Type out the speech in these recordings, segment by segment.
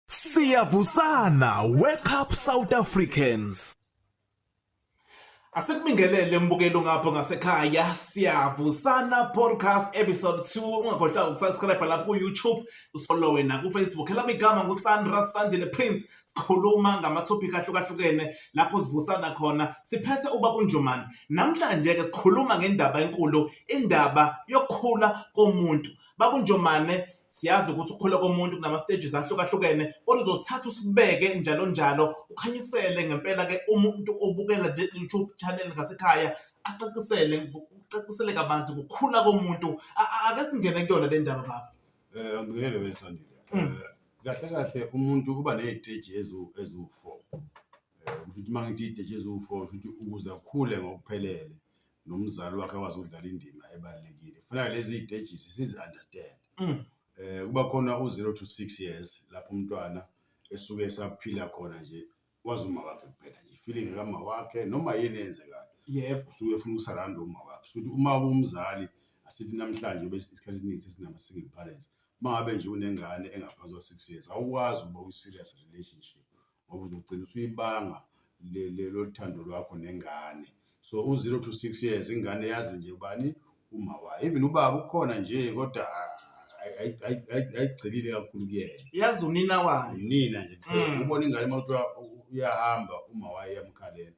Siyavusana wake up South Africans. Asikubingelele mbukelo ngapho ngasekhaya siyavusana podcast episode 2 ungakhohlwa ukusubscribe lapho ku YouTube ufollow wena ku Facebook elami igama ngu Sandra Sandile Prince sikhuluma ngama topic ahlukahlukene lapho sivusana khona siphethe ubaba uNjomani namhlanje ke sikhuluma ngendaba enkulu indaba yokukhula komuntu baba uNjomane siyazi ukuthi ukukhula komuntu kunama-stages ahlukahlukene kodwa uzosithatha usibeke njalo njalo ukhanyisele ngempela-ke uma umuntu obukela le youtube channel ngasekhaya acacisele ucacisele kabanzi ngokukhula komuntu ake singene kuyona le ndaba baba um angibikelele wesandile um mm. eh, kahle kahle umuntu uba ney'teji eziwu-four um eh, kusho ukuthi uma ngithi iy'teji eziwu-four kusho ukuthi ukuze akhule ngokuphelele nomzali wakhe akwazi ukudlala indima ebalulekile kufuneka lezi stages sizi understand mm. eh kuba khona u0 to 6 years lapho umntwana esuke esaphila khona nje wazi uma wakhe kuphela nje feeling kama wakhe noma yini enzekayo yebo usuke ufuna ukusaranda uma wakhe futhi uma umzali asithi namhlanje ube isikhathi esiningi sesinama single parents uma ngabe nje unengane engaphansi kwa 6 years awukwazi ukuba uyi serious relationship ngoba uzogcina usuyibanga lolu thando lwakho nengane so u-zero to six years ingane yazi nje ubani uma wayo even ubaba ukhona nje kodwa ayigcelile kakhulu kuyena yazi unina wayo unina nje mm. ubona ingane uma kuthiwa uyahamba uma wayo iyamkhalela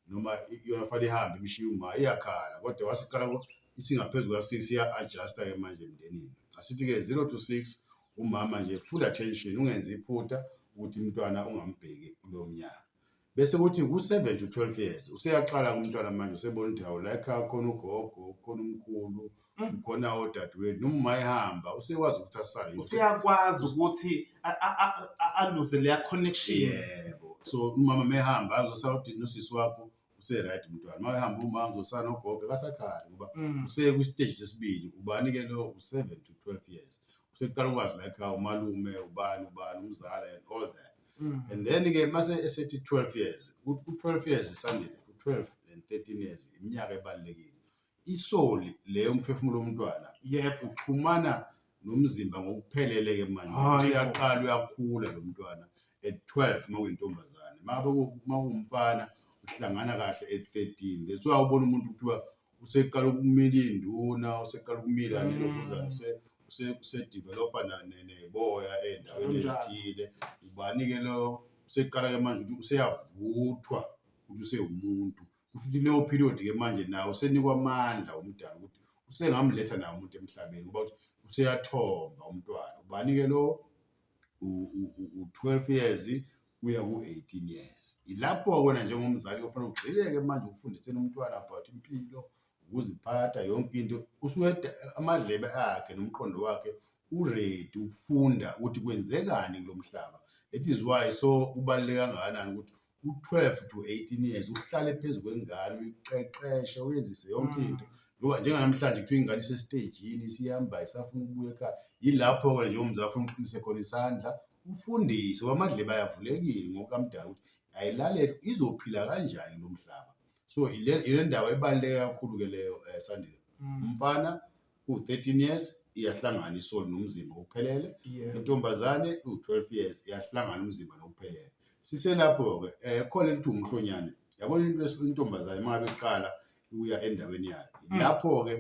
noma yona fanele ihambe imshiye uma iyakhala kodwa wasiqala isingaphezu kuka-six iya-adjusta ke manje emndenini asithi-ke zero to six umama nje full attention ungenzi iphutha ukuthi umntwana ungambheki kulo mnyaka bese kuthi ku-seven to twelve years useyaqala umntwana manje usebona ukuthi hawu like khona ugogo khona umkhulu Mm. khona odadewethu noma uma ehamba usekwazi ukuthi asale useyakwazi ukuthi aluze leya connection yebo so umama mehamba azosala udini usisi wakho useright umntwana uma ehamba uma uzosana ogogo akasakhali ngoba Mm. useye kwisiteji sesibili ubani-ke lo u-seven to twelve years usekuqala ukwazi like how umalume ubani ubani umzala and all that Mm. and then-ke mase esethi 12 years ku-12 years isandile ku-12 and 13 years iminyaka ebalulekile isoul le umphefumulo womntwana yebo uxhumana nomzimba ngokuphelele ke manje useyaqala uyakhula lo mntwana at 12 uma uyintombazane uma kuwumfana uhlangana kahle at 13 that's why ubona umuntu kuthiwa useqala ukumila induna useqala ukumila mm. nelokuzana usedevelopa neboya endaweni ezithile ubani-ke lo useqala-ke manje ukuthi useyavuthwa ukuthi usewumuntu kusho ukuthi leyo period ke manje nawo usenikwa amandla umdala ukuthi usengamletha nawo umuntu emhlabeni ngoba ukuthi useyathomba umntwana ubani ke lo u-12 years kuya ku-18 years ilapho kwena njengomzali ofanele ugxileke manje ukufundiseni umntwana about impilo ukuziphatha yonke into usuke amadlebe akhe nomqondo wakhe uready ukufunda ukuthi kwenzekani kulo mhlaba that is why so kubaluleke kangakanani ukuthi u-twelve to eighteen years uhlale phezu kwengane uyiqeqeshe uyenzise yonke mm. into ngoba njenganamhlanje kuthiwa ingane isesitejini isihamba isafuna ukubuya ekhaya yilapho-ke nje umzali afuna uqinise khona isandla ufundise wamadleba ayavulekile ngokamdala ukuthi ayilalele izophila kanjani lo mhlaba so ile ndawo ebaluleke kakhulu-ke leyo um sandile mm. umfana u-13 years iyahlangana isoli nomzimba ngokuphelele Yeah. intombazane iwu-12 years iyahlangana umzimba nokuphelele siselapho-ke um khona elithi umhlonyane yabona into esi- intombazane uma ngabe iqala uya endaweni yayo Mm. lapho-ke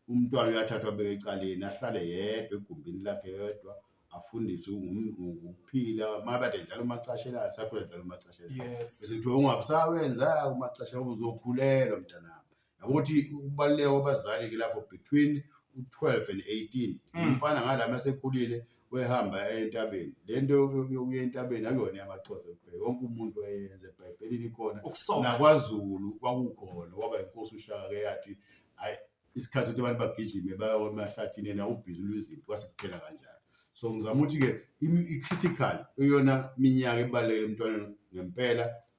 umntwana uyathathwa abeke ecaleni ahlale yedwa egumbini lakhe yedwa afundiswe ngum- ngokuphila uma kade dlala umacashelana sakhula dlala umacashelana Yes. Izinto ungabusawenza umacasha uzokhulelwa mntanami. yabo ukuthi ukubaluleka kwabazali-ke lapho between u-twelve and eighteen Mm. umfana ngalami asekhulile wehamba eya entabeni le nto yo- yokuya entabeni akuyona yamaxhosa kuphela wonke umuntu wayenza ebhayibhelini ikhona ukusoka nakwazulu kwakukhona waba inkosi ushaka ke yathi ayi isikhathi ukuthi abantu bagijime bayo emahlathini yena ubhizi lwezinto kwase kuphela kanjalo so ngizama ukuthi-ke imi- i-critical eyona minyaka ebalulekile emntwaneni ngempela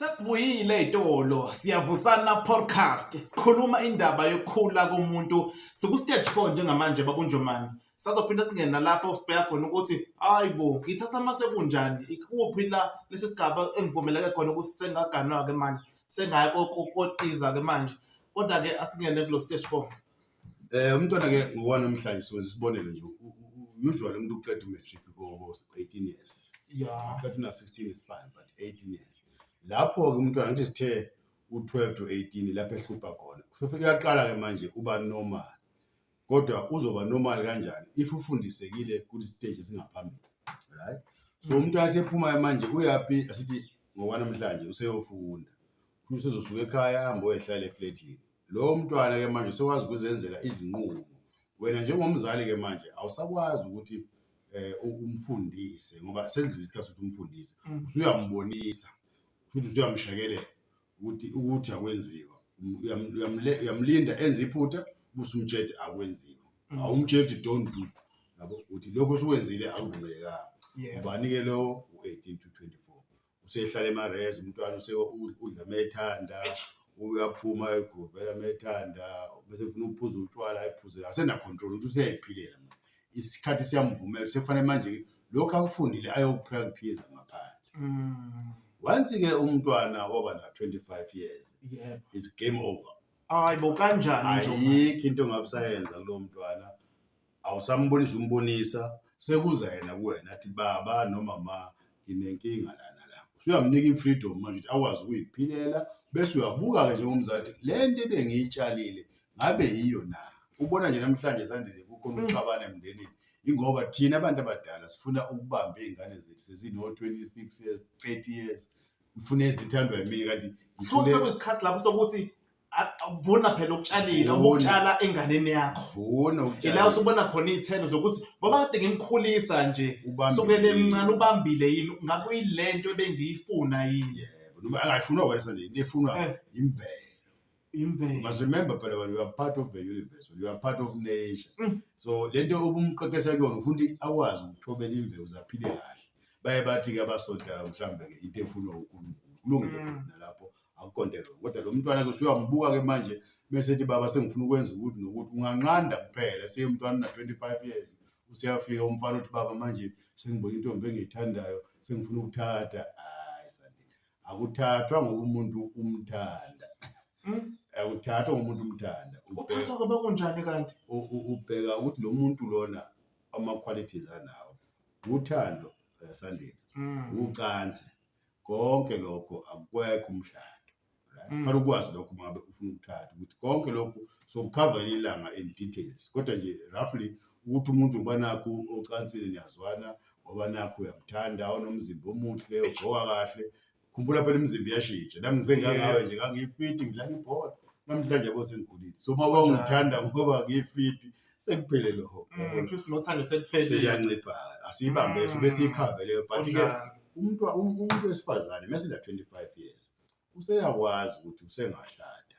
Sesibuyile itolo siyavusana podcast sikhuluma indaba yokukhula komuntu siku stage 4 njengamanje bakunjomani sazophinde singena lapho sibheka khona ukuthi hayibo ngithatha mase kunjani ikuphi la lesi sigaba engivumeleke khona ukuthi sengaganwa ke manje sengaya koqiza ke manje kodwa ke asingene kulo stage 4 Eh umntwana ke ngowana namhlanje siwenza isibonelo nje usually umuntu uqeda umatric ko 18 years. Yeah. Uqeda na 16 is fine but 18 years. Lapho ke umntwana ngathi sithe u12 to 18 lapho ehlupha khona. Kusho uyaqala ke manje uba normal. Kodwa uzoba normal kanjani if ufundisekile ku stage esingaphambili. Right? So mm. umuntu asephuma manje uyapi asithi ngokwanamhlanje useyofunda. Kusho usezosuka ekhaya ahambe oyehlala eflatini. Lowo mntwana-ke manje usekwazi ukuzenzela izinqumo. Wena njengomzali-ke manje awusakwazi ukuthi um umfundise ngoba sesindlula isikhathi sokuthi umfundise. Mm. Usuyambonisa, futhi usuyamshekelela ukuthi ukuthi akwenziwa. Um, uyam- uyamle- Uyamlinda enze iphutha, busumtshela akwenziwa. Mm. Awumtsheli ukuthi don't do, yabo, ukuthi lokho osukwenzile akuvumelekanga. Yeah. Ubani-ke lowo? U-18 to 24. usehlala emarez umntwana udla methanda uyaphuma egrovela methanda bese funa ukuphuza utshwala ayiphuze asenacontrol ukuthi useyayiphilela manje isikhathi siyamvumela sekufanele manje lokhu akufundile ayokupractice ngaphandle mm. once ke umntwana waba na 25 years yeah. it's game over hayi bo kanjani nje ayikho into ngabusayenza kulo mntwana awusambonisi umbonisa sekuza yena kuwena athi baba noma ma nginenkinga lana la usuyamnika i-freedom manje ukuthi akwazi ukuyiphilela bese uyabuka-ke njengomzali ukuthi le nto ebengiyitshalile ngabe yiyo na ubona nje namhlanje sandile kukhona mm. ukuxabana emndenini ingoba thina abantu abadala sifuna ukubamba iy'ngane zethu sezino-twenty six years thirty years ngifuna ezithandwa yimini kanti sekuyisikhathi lapho sokuthi vuna phela ukutshalile Vuna. ukutshala enganeni yakho vuna ila utshale usubona khona iy'thelo zokuthi ngoba kade ngimkhulisa nje ubambile. sukele mncane ubambile yini ngabe uyile nto ebengiyifuna yini Yebo, noma akayifunwa wena sanje into efunwa Eh. imvelo imbewu must remember phela wena you are part of the universe you are part of nature Mm. so lento obumqeqesha kuyona ufuna ukuthi akwazi ukuthobela imvelo zaphile kahle baye bathi-ke abasontayo mhlawumbe-ke into efunwa unkulunkulu kulungile Mm. futhi nalapho akuqonde wrong kodwa lo mntwana ke usuyambuka ke manje bese ethi baba sengifuna ukwenza ukuthi nokuthi unganqanda kuphela seyemntwana una-25 years useyafika umfana uthi baba manje sengibona intombi engiyithandayo sengifuna ukuthatha hayi sandile akuthathwa ngoba umuntu umthanda hmm? akuthathwa ngoba umuntu umthanda uthathwa ngoba kunjani kanti ubheka ukuthi lo muntu lona ama-qualities anawo uthando eh, sandile hmm. ucansi konke lokho akukwekho umshado right Mm. fanele ukwazi lokho uma ngabe ufuna ukuthatha ukuthi konke lokho sokukhava ilanga in details kodwa nje roughly ukuthi umuntu uba nakho ocansini niyazwana ngoba nakho uyamthanda onomzimba omuhle ugqoka kahle khumbula phela imizimba iyashintsha nami ngisengangawe nje ngangiyifiti ngidlala ibhola namhlanje yabo sengikhulile so uma wawungithanda ngoba ngiyifiti sekuphele lo hop Mm, kusho ukuthi nothando sekuphelile seyancipha asiyibambe so Mm. bese ikhave leyo but ke Kunjalo. umuntu um- umuntu wesifazane mase la 25 years useyakwazi ukuthi usengashada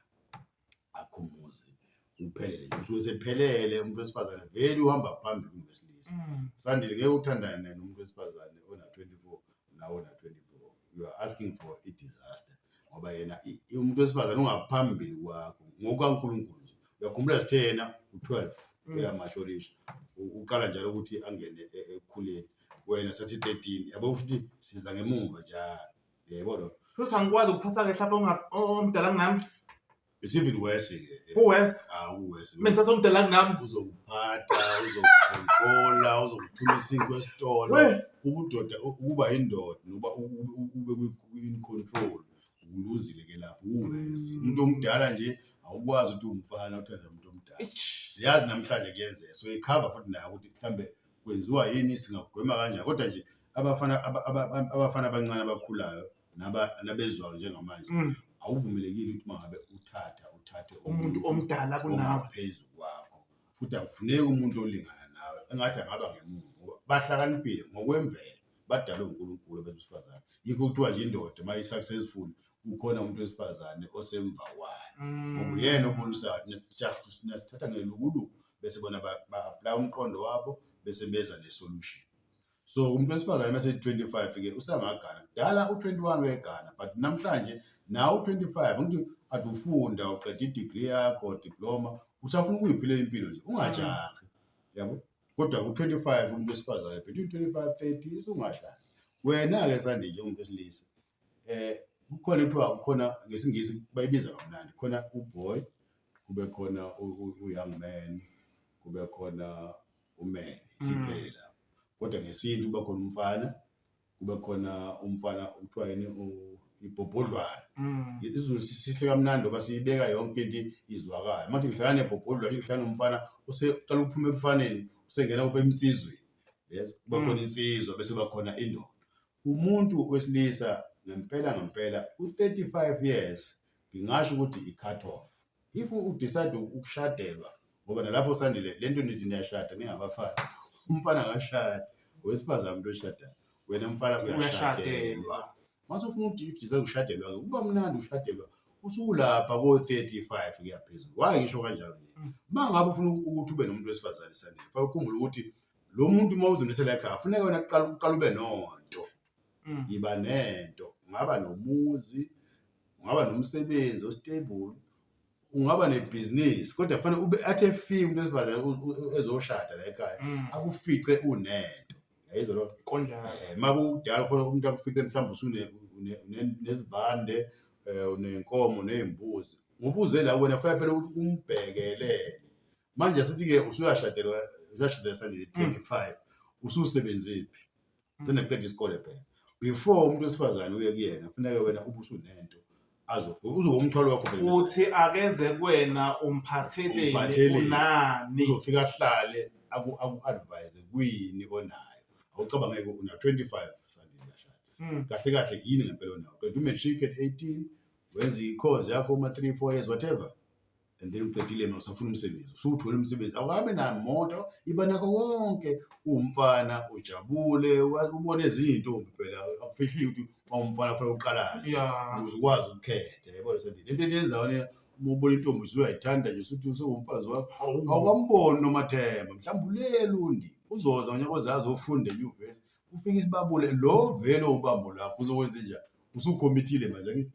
akhumuzi uphelele usuke sephelele umuntu wesifazane vele uhamba phambili kunesilisa Mm, sandile ngeke uthandane naye nomuntu wesifazane ona 24 nawona 24 you are asking for a disaster ngoba yena umuntu wesifazane ungaphambili kwakho ngokaNkulunkulu nje uyakhumbula sithe yena u12 mm. uyamasholisha uqala njalo ukuthi angene e, ekukhuleni wena sathi 13 yabo ukuthi siza ngemumva njalo yebo lo futhi angikwazi ukuthatha ke mhlawumbe omdala kunami It's even worse ke. ke. Kuwes. Ah, uwese. Mina ngithatha umdala kunami. Uzokuphatha, uzokucontrola, uzokuthuma isinkwa esitolo. We. Ubudoda ukuba indoda noba u- u- u- ube kwi- in control. Uluzile ke lapho uwese. Umuntu omdala nje awukwazi ukuthi umfana uthanda umuntu omdala. Eish. Siyazi namhlanje kuyenzeka. So ikhava futhi nayo ukuthi mhlambe kwenziwa yini singagwema kanjani. Kodwa nje abafana aba- aba- aba- abafana abancane abakhulayo naba nabezwayo njengamanje Mm. awuvumelekile ukuthi mangabe uthatha uthathe umuntu omdala kunawe phezu kwakho futhi akufuneki umuntu olingana nawe engathi angaba ngemuva ngoba bahlakaniphile ngokwemvelo badalwe uNkulunkulu abantu besifazane yikho kuthiwa nje indoda uma i-successful kukhona umuntu wesifazane osemva kwayo Mm. ngoba uyena obonisayo nasithatha ngelukuluku bese bona ba-aplaya umqondo wabo bese beza ne-solution so umuntu wesifazane uma seyi-25 ke usangagana kudala u-21 wegana but namhlanje nawo u-25 ngithi athi ufunda uqeda i-degree yakho diploma usafuna ukuyiphilela impilo nje ungajahi yabo kodwa ku-25 umuntu wesifazane between 25 30 usungahlali wena-ke sandile njengomuntu wesilisa um kukhona kuthiwa kukhona ngesingisi bayibiza kamnandi khona uboy kube khona u-young man kube khona umele siphelele lapho kodwa ngesintu kuba khona umfana kuba khona umfana okuthiwa yini u- ibhobhodlwana Mm. izulu si- sihle kamnandi ngoba siyibeka yonke into izwakala manje ngihlala nebhobhodlwana ngihlala nomfana useqala ukuphuma ebufaneni usengena kube emsizweni yes kuba khona insizwa bese kuba khona indoda Umuntu wesilisa ngempela ngempela u-35 years ngingasho ukuthi i-cut off. If u-decide ukushadelwa ngoba nalapho usandile le nto nithi niyashada ningabafana umfana akashadi wesifazane umuntu oshadayo wena mfana uyashadelwa mase ufuna udidisa ukushadelwa ke kuba mnandi ushadelwa usukulapha ko-35 kuyaphezulu why ngisho kanjalo nje uma ngabe ufuna ukuthi ube nomuntu wesifazane sandile fa ukhumbula ukuthi lo muntu uma uzonethela ekhaya funeka wena kuqala uqala ube nonto Mm. yiba nento ungaba nomuzi ungaba nomsebenzi ostable ungaba nebhizinisi kodwa kufanele ube athe fika umuntu wesifazane u- u- ezoshada la ekhaya Mm. akufice unento yayizwa loo nto Konjalo. Eh, uma kudala ufuna umuntu akufice mhlawumbe usune- une- une- nezivande um unenkomo ney'mbuzi ngubuze la wena kufanele phela ukuthi umbhekelele manje asithi-ke usuyashadelwa usuyashadelwa sandile 25 mm. ususebenzephi mm. seneqeda isikole phela before umuntu wesifazane uye kuyena kufuneka wena ube usunento uzoba umthwalo wakho phela uthi akeze kuwena umphatheleni unani uzofika ahlale aku-advise kuyini onayo awucabangeke una 25 sandile yashada mm. kahle kahle yini ngempela onayo kanti umatric at 18 wenza i-course yakho uma 3 4 years whatever and then uqedile ma usafuna umsebenzi usuwuthole umsebenzi awukabe namoto iba nakho wonke uwumfana ujabule wa- ubone ezinye iy'ntombi phela akufihlile ukuthi wawumfana fanele uqalayo ya ukuze ukwazi ukukhetha yabona sendini into ento yenzayo ne uma ubona intombi usuke uyayithanda nje usuthi usewumfazi wakho hawu awukwamboni nomathemba mhlawumbe ulele undi uzoza ngonyaka ozazi ofunda enyuvesi ufike isibabule lo vele ubambo lakho uzokwenze njani usukhomitile manje angithi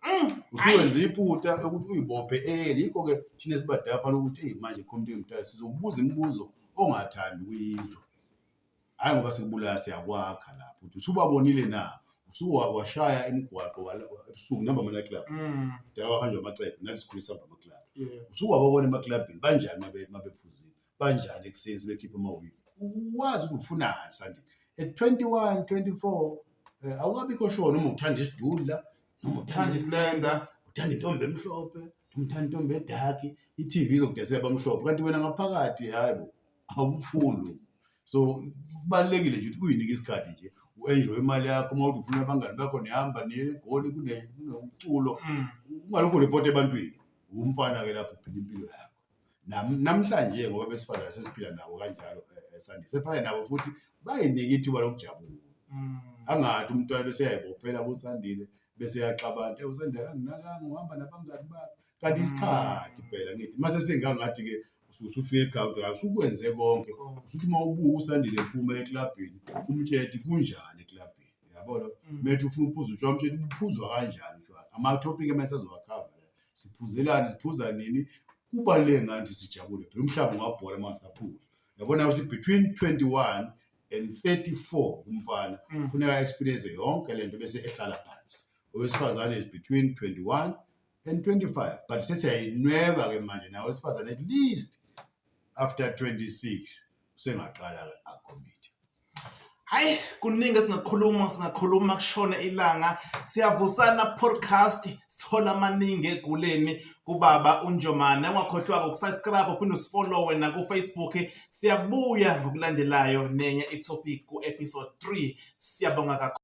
mm, usuwenza iputa ukuthi uyibophe eli yikho ke thina sibadala fanele ukuthi eyi manje khomiti yomdala sizokubuza imibuzo ongathandi ukuyizwa hhayi ngoba sikubulaya siyakwakha lapho ukuthi usubabonile na usuwashaya imigwaqo ebusuku nihamba amanaclub mm. dala wahanjwa amacebo nathi sikhulisa hamba amaclub usuwababona emaklabhini banjani mabephuzile banjani ekuseni sebekhipha amawivi uwazi ukuthi ufunani sandile at 21 24 eh, awukabikho sure noma uthanda isidudla noma uthanda isilenda uthanda intombi emhlophe noma uthanda intombi edaki i-tv izokudesela abamhlophe kanti wena ngaphakathi hayi bo awumfundi so kubalulekile nje ukuthi uyinike isikhathi nje u-enjoy imali yakho uma uthi ufuna abangani bakho nihamba negoli kunomculo mm. ungalokhu report ebantwini wumfana-ke lapho phila impilo yakho namhlanje ngoba besifazane sesiphila nabo kanjalo eh, eh, sandise efane nabo futhi bayinike ithuba lokujabula mm. angathi umntwana bese yayibophela kusandile bese yaxabana eh usandile akanginakanga uhamba nabangani bakhe kanti mm. isikhathi phela ngithi mase singangathi ke usufike ekhawunti yakho usukwenze konke usuthi uma ubuka usandile ephuma eklabhini umtshethi kunjani eklabhini yabona mm. methu ufuna uphuza utshwala umtshethi uphuzwa kanjani utshwala ama-topic emesazowakhava siphuzelani siphuza nini kubaluleke ngathi sijabule phela umhlaba ungabhola uma saphuzwa yabona ukuthi between 21 and 34 umfana mm. kufuneka mm. experience yonke lento bese ehlala phansi owesifazane is between 21 and 25 but sesiyayinweba ke manje nawe wesifazane at least after 26 usengaqala ke akhomit hayi kuningi esingakhuluma singakhuluma kushona ilanga siyavusana podcast sithola amaningi eguleni kubaba unjomane ungakhohlwako ukusubscribe uphinde usifollowe nakufacebook siyabuya ngokulandelayo nenye itopic ku-episode 3 siyabonga kakhulu